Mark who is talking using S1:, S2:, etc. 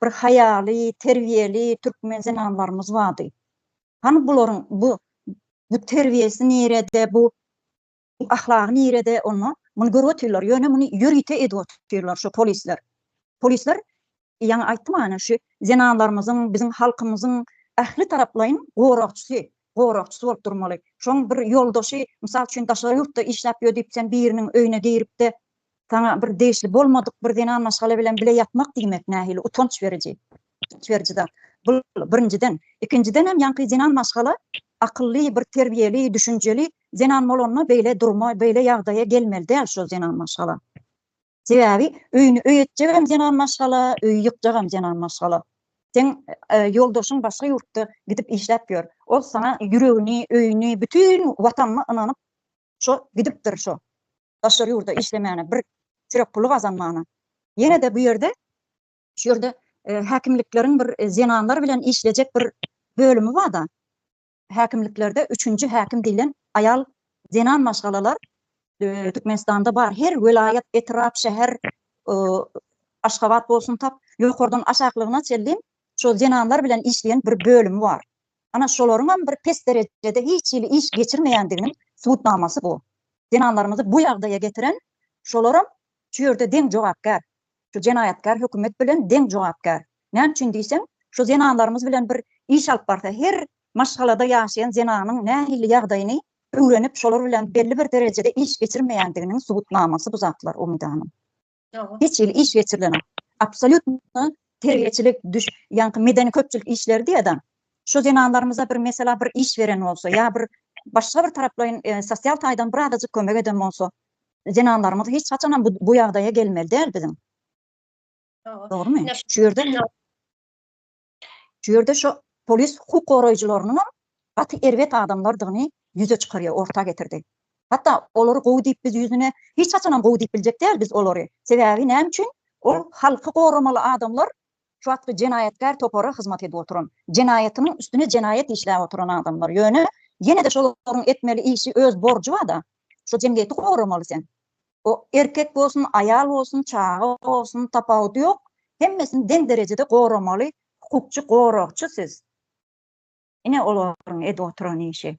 S1: Bir haýaly, terbiýeli türkmen zenanlarymyz bardy. Hany bularyň bu bu terbiýesi nirede, bu ahlagy nirede onda? Muny görüp otyrlar, ýöne muny ýörite edip otyrlar şu polisler. Polisler ýaňy aýtdym ana şu zenanlarymyzyň, biziň halkymyzyň ähli taraplaýyn goragçysy, goragçysy bolup durmaly. Şoň bir ýoldaşy, mysal üçin daşary ýurtda işläp ýör diýip sen biriniň öýüne girip-de, Saňa bir degişli bolmadyk bir zenan maşgala bilen bile ýatmak diýmek nähili utanç beriji, utanç beriji zat. Bu birinjiden. Ikinjiden hem ýaňky zenan maşgala akylly, bir terbiýeli, düşünjeli zenan bolanda beýle durma, beýle ýagdaýa gelmeli däl şol zenan maşgala. Sebäbi öýüni öý etjegem zenan maşgala, öýi ýykjagam zenan maşgala. Seň ýoldaşyň başga ýurtda gidip işläp ýör. Ol saňa ýüregini, öýüni, bütin Watanyny ynanyp, şo gidipdir şo. daşary ýurda işlemäne, bir çörek puly gazanmana. Ýene-de bu ýerde, şu ýerde e, häkimlikleriň bir e, zenanlar bilen işlejek bir bölümi bar-da. Häkimliklerde üçünji häkim diýlen aýal zenan maşgalalar e, Türkmenistanda bar. Her welaýat, etrap, şäher, e, Aşgabat bolsun tap, ýokardan aşaklygyna çenli şu zenanlar bilen işleýän bir bölümi bar. Ana, şolaryňam bir pes derejede hiç hili iş geçirmeýändiginiň subutnamasy bu. Zenanlarymyzy bu ýagdaýa getiren şolaram şu ýerde deň jogapkär. Şu jenaýatkär hökümet bilen deň jogapkär. Näme üçin diýseň, şu zenanlarymyz bilen bir iş alyp barsa, her maşgalada ýaşaýan zenanyň nähili ýagdaýyny öwrenip, şolar bilen belli bir derejede iş geçirmeýändiginiň subutnamasy bu zatlar, Umyt hanym. hiç hili iş geçirilen absolýutno terbiýeçilik düş ýaňky medeni köpçülik işleri diýýär adam şu zenanlarymyza bir mesela bir iş beren bolsa ýa bir başga bir taraplaýyn e, sosial taýdan bir azajyk kömek eden bolsa zenanlarymyz hiç haçan bu, bu ýagdaýa gelmeli däl biziň dogrumy şu ýerde Şu ýerde şu polis hukuk goraýjylarynyňam gaty erbet adamlardygyny ýüze çykarýar, orta getirdi. Hatda olary gowy diýip biz ýüzüne hiç haçanam gowy diýip biljek däl biz olary. Sebäbi näme üçin? Ol halky goramaly adamlar şu wagtky jenaýatkär topara hyzmat edip oturan, jenaýatynyň üstüne jenaýat işläp oturan adamlar. Ýöne ýene-de şolaryň etmeli işi öz borjy bar-da. Şu jemgyýeti goramaly sen. O erkek bolsun, aýal bolsun, çaga bolsun, tapawudy ýok, hemmesini deň derejede goramaly hukukçy, goragçy siz. Ine olaryň edip oturan işi.